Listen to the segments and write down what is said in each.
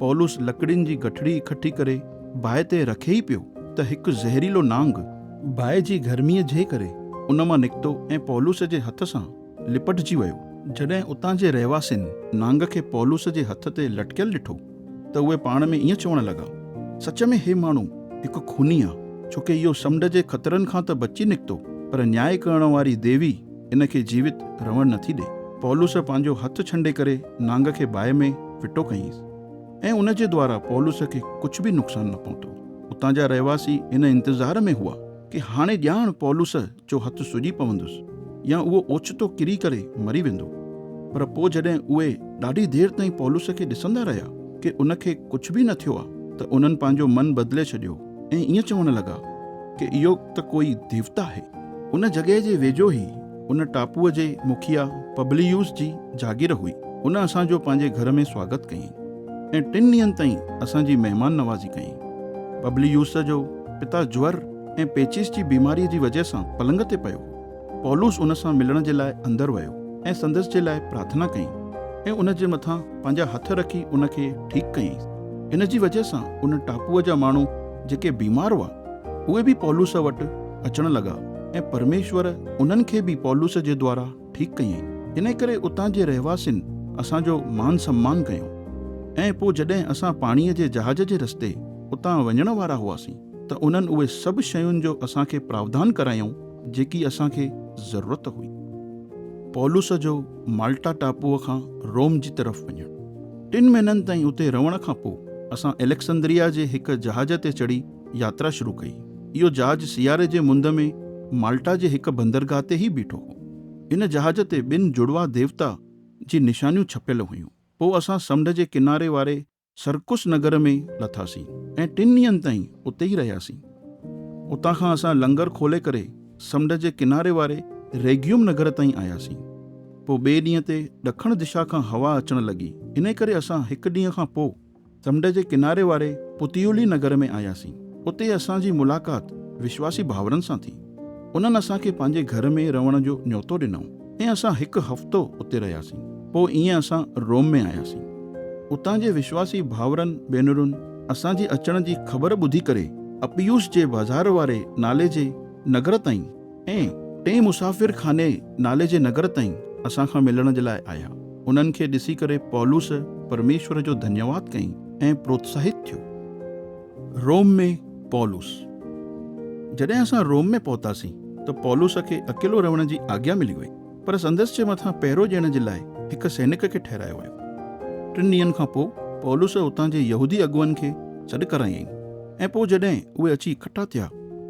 پولس لڪڙين جي گٺڙي اڪٺي ڪري باهه تي رکي ئي پيو ته هڪ زهريلو نانگ، باهه جي گرميء جي ڪري، ان مان نڪتو ۽ پولس جي هٿ سان لپٽجي ويو. جڏهن اتان جي رهواسين نانگ کي پولس جي هٿ تي لٽڪيل ڏٺو ته اهي پاڻ ۾ ائين چوڻ لڳا، سچ ۾ هي ماڻهو هڪ خوني آ، ڇوڪه اهو سمنڊ جي خطرن کان ته بچي نڪتو، پر نياء ڪرڻ واري ديوي، ان کي جيوت رهڻ نٿي ڏي. پولس پنهنجو هٿ ڇنڊي ڪري نانگ کي باهه ۾ ڦٽو ڪيائينس ۽ ان جي دوارا پولس کي ڪجهه به نقصان نه پهتو. اتان جا رهواسي ان انتظار ۾ هئا ڪي هاڻي ڄاڻ پولس جو هٿ سڄي پوندس يا اهو اوچتو ڪري ڪري مري ويندو. پر پوء جڏهن اهي ڏاڍي دير تائين پولس کي ڏسندا رهيا ڪي ان کي ڪجهه به نه ٿيو آهي ته انهن پنهنجو من بدلي ڇڏيو. ۽ ائين چوڻ لڳا ڪي اهو ته ڪوئي ديوتا آهي. ان جڳهه جي ويجهو ئي ان ٽاپوء جي مکيا پبليوس جي جاگير هئي. ان اسان جو پنهنجي گهر ۾ سواگت ڪيائين ۽ ٽن ڏينهن تائين اسان جي مهمان نوازي ڪيائين. پبليوس جو پتا جور ۽ پيچيس جي بيماريء جي وجهه سان پلنگ تي پيو هو. پولس ان سان ملڻ جي لاء اندر ويو ۽ سندس جي لاء پرارٿنا ڪيائين ۽ ان جي مٿان پنهنجا هٿ رکي ان کي ٺيڪ ڪيائينس. ان جي وجهه سان ان ٽاپوء جا ماڻهو جيڪي بيمار هئا، اهي به پولس وٽ اچڻ لڳا ۽ پرميشور انهن کي به پولس جي دوارا ٺيڪ ڪيائين. انهيء ڪري اتان جي رهواسين اسان جو مان سمان ڪيو ۽ پوء جڏهن اسان پاڻيء جي جهاز جي رستي اتان وڃڻ وارا هئاسين ته انهن اهي سڀ شين جو اسان کي پراوڌان ڪرايائون، جيڪي اسان کي ضرورت هئي. پولس جو مالٽا ٽاپوء کان روم جي طرف وڃڻ. ٽن مهينن تائين اتي رهڻ کان پوء اسان اليڪسندريا جي هڪ جهاز تي چڙهي ياترا شروع ڪئي. اهو جهاز سياري جي مند ۾ مالٽا جي هڪ بندرگاهه تي ئي بيٺو هو. ان جهاز تي ٻن جڙواء ديوتا جي نشانيون ڇپيل هيون. پوء اسان سمنڊ جي ڪناري واري سرڪس نگر ۾ لٿاسين ۽ ٽن ڏينهن تائين اتي ئي رهياسين. اتان کان اسان لنگر کولي ڪري سمنڊ جي ڪناري واري ريگيوم نگر تائين آياسين. پوء ٻئي ڏينهن تي ڏکڻ دشا کان هوا اچڻ لڳي، انهي ڪري اسان هڪ ڏينهن کان پوء سمنڊ جي ڪناري واري پتيولي نگر ۾ آياسين. اتي اسان جي ملاقات وشواسي ڀائرن سان ٿي. انهن اسان کي پنهنجي گهر ۾ رهڻ جو نيوتو ڏنائون. ۽ اسان هڪ هفتو اتي رهياسين. پوء ائين اسان روم ۾ آياسين. اتان جي وشواسي ڀائرن ڀينرن اسان جي اچڻ جي خبر ٻڌي ڪري اپيوس جي بازار واري نالي جي نگر تائين ۽ ٽئين مسافر خاني نالي جي نگر تائين اسان کان ملڻ جي لاء آيا. انهن کي ڏسي ڪري پولس پرميشور جو ڌنيواد ڪيائين ۽ پروتساهت ٿيو. روم ۾ پولس. جڏهن اسان روم ۾ پهتاسين ته پولس کي اڪيلو رهڻ جي آگيا ملي وئي، پر سندس جي مٿان پهرو ڏيڻ جي لاء هڪ سينڪ کي ٺهرايو ويو. ٽن ڏينهن کان پوء پولس اتان جي يهودي اڳواڻن کي سڏ ڪرايائين، ۽ پوء جڏهن اهي اچي اڪٺا ٿيا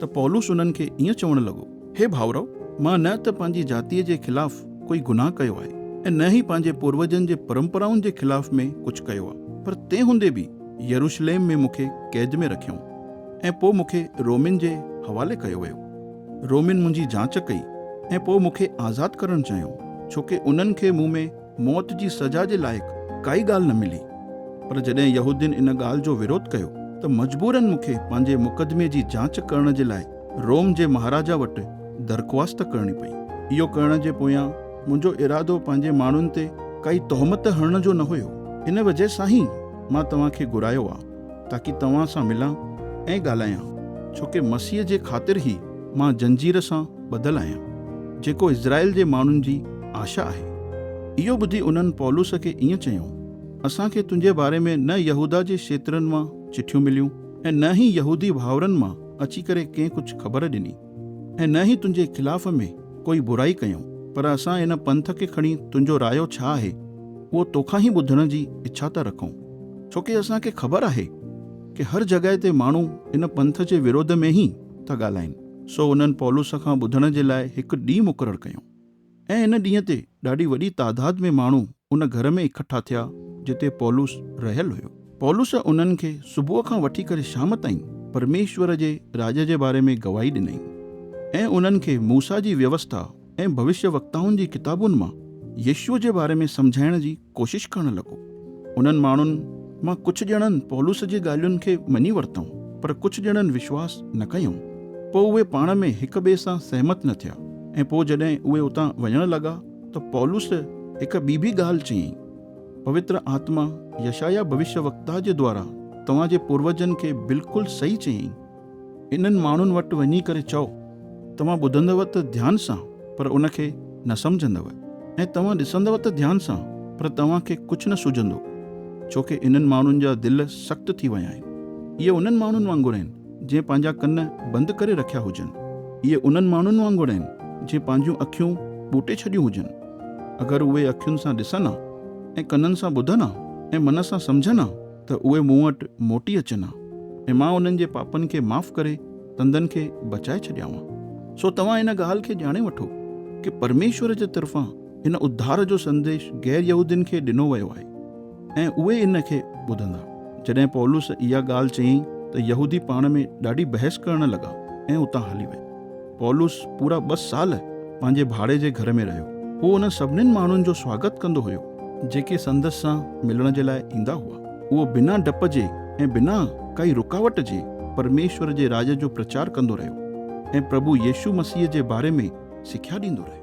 ته پولس انهن کي ائين چوڻ لڳو، هي ڀائرؤ، مان نه ته پنهنجي جاتيء جي خلاف ڪوئي گناهه ڪيو آهي، ۽ نه ئي پنهنجي پوروجن جي پرمپرائن جي خلاف ۾ ڪجهه ڪيو آهي، پر تنهن هوندي به، يروشليم ۾ مون کي قيد ۾ رکيائون ۽ پوء مون کي رومين جي حوالي ڪيو ويو. رومين منهنجي جاچ ڪئي ۽ پوء مون کي آزاد ڪرڻ چيائون، ڇو ڪي انهن کي مون ۾ موت جي سزا جي لائق ڪائي ڳالهه نه ملي. پر جڏهن يهودين ان ڳالهه جو وروڌ ڪيو ته مجبورن مون کي پنهنجي مقدمي جي جاچ ڪرڻ جي لاء روم جي مهاراجا وٽ درخواست ڪرڻي پئي. اهو ڪرڻ جي پويان منهنجو ارادو پنهنجي ماڻهن تي ڪائي تهمت هڻڻ جو نه هيو. ان وجهه سان هي. مان توهان کي گهرايو آ تاڪي توهان سان ملان ۽ ڳالهايان، ڇو ڪي مسيح جي خاطر هي مان زنجير سان ٻڌل آهيان، جيڪو اسرائيل جي ماڻهن جي آشا آهي. اهو ٻڌي انهن پولس کي ائين چيو، اسان کي تنهنجي باري ۾ نه يهوداه جي شيطرن مان چٺيون مليون ۽ نه هي يهودي ڀائرن مان اچي ڪري ڪنهن ڪجهه خبر ڏني. ۽ نه ئي تنهنجي خلاف ۾ ڪوئي برائي ڪيائون، پر اسان هن پنٿ کي کڻي تنهنجو رايو ڇا آهي، اهو توکان ئي ٻڌڻ جي اڇا ٿا رکون. ڇو ڪي اسان کي خبر آهي ڪي هر جڳهه تي ماڻهو ان پنٿ جي وروڌ ۾ ئي ٿا ڳالهائين. سو انهن پولس کان ٻڌڻ جي لاء هڪ ڏينهن مقرر ڪيائون. ۽ ان ڏينهن تي ڏاڍي وڏي تعداد ۾ ماڻهو ان گهر ۾ اڪٺا ٿيا، جتي پولس رهيل هيو. پولس انهن کي صبح کان وٺي ڪري شام تائين پرميشور جي راڄ جي باري ۾ گواهي ڏنائين، ۽ انهن کي موسيٰ جي ويوسٿا ۽ ڀوشيوڪتائن جي ڪتابن مان يسوع جي باري ۾ سمجهائڻ جي ڪوشش ڪرڻ لڳو. انهن ماڻهن مان ڪجهه ڄڻن پولس جي ڳالهين کي مڃي ورتائون، پر ڪجهه ڄڻن وشواس نه ڪيائون. پوء اهي پاڻ ۾ هڪ ٻئي سان سهمت نه ٿيا ۽ پوء جڏهن اهي اتان وڃڻ لڳا ته پولس هڪ ٻي به ڳالهه چيائين، پوتر آتما يشعيا ڀوشيوڪتا جي دوارا توهان جي پوروجن کي بلڪل صحيح چيائين. انهن ماڻهن وٽ وڃي ڪري چئو، توهان ٻڌندؤ ته ڌيان سان پر ان کي نه سمجهندؤ، ۽ توهان ڏسندؤ ته ڌيان سان پر توهان کي ڪجهه نه سجهندو، ڇو ڪي انهن ماڻهن جا دل سخت ٿي ويا آهن. اهي انهن ماڻهن وانگر آهن، جنهن پنهنجا ڪن بند ڪري رکيا هجن. اهي انهن ماڻهن وانگر آهن، جنهن پنهنجيون اکيون ٻوٽي ڇڏيون هجن. اگر اهي اکين سان ڏسن ها، ۽ ڪنن سان ٻڌن ها، ۽ من سان سمجهن ها، ته اهي مون وٽ موٽي اچن ها ۽ مان انهن جي پاپن کي معاف ڪري تندن کي بچائي ڇڏيانء. سو توهان ان ڳالهه کي ڄاڻي وٺو ڪه پرميشور جي طرفان هن اڌار جو سنديش غير يهودين کي ڏنو ويو آهي ۽ اهي ان کي ٻڌندا. جڏهن پولس اها ڳالهه چيائين ته يهودي پاڻ ۾ ڏاڍي بحث ڪرڻ لڳا ۽ اتان هلي ويا. پولس پورا ٻه سال پنهنجي ڀاڙي جي گهر ۾ رهيو. هو انهن سڀني ماڻهن جو سواگت ڪندو هيو، جيڪي سندس سان ملڻ جي لاء ايندا هئا. اهو بنا ڊپ جي ۽ بنا ڪائي رڪاوٽ جي پرميشور جي راڄ جو پرچار ڪندو رهيو ۽ پرڀو يسوع مسيح جي باري ۾ سکيا ڏيندو رهيو.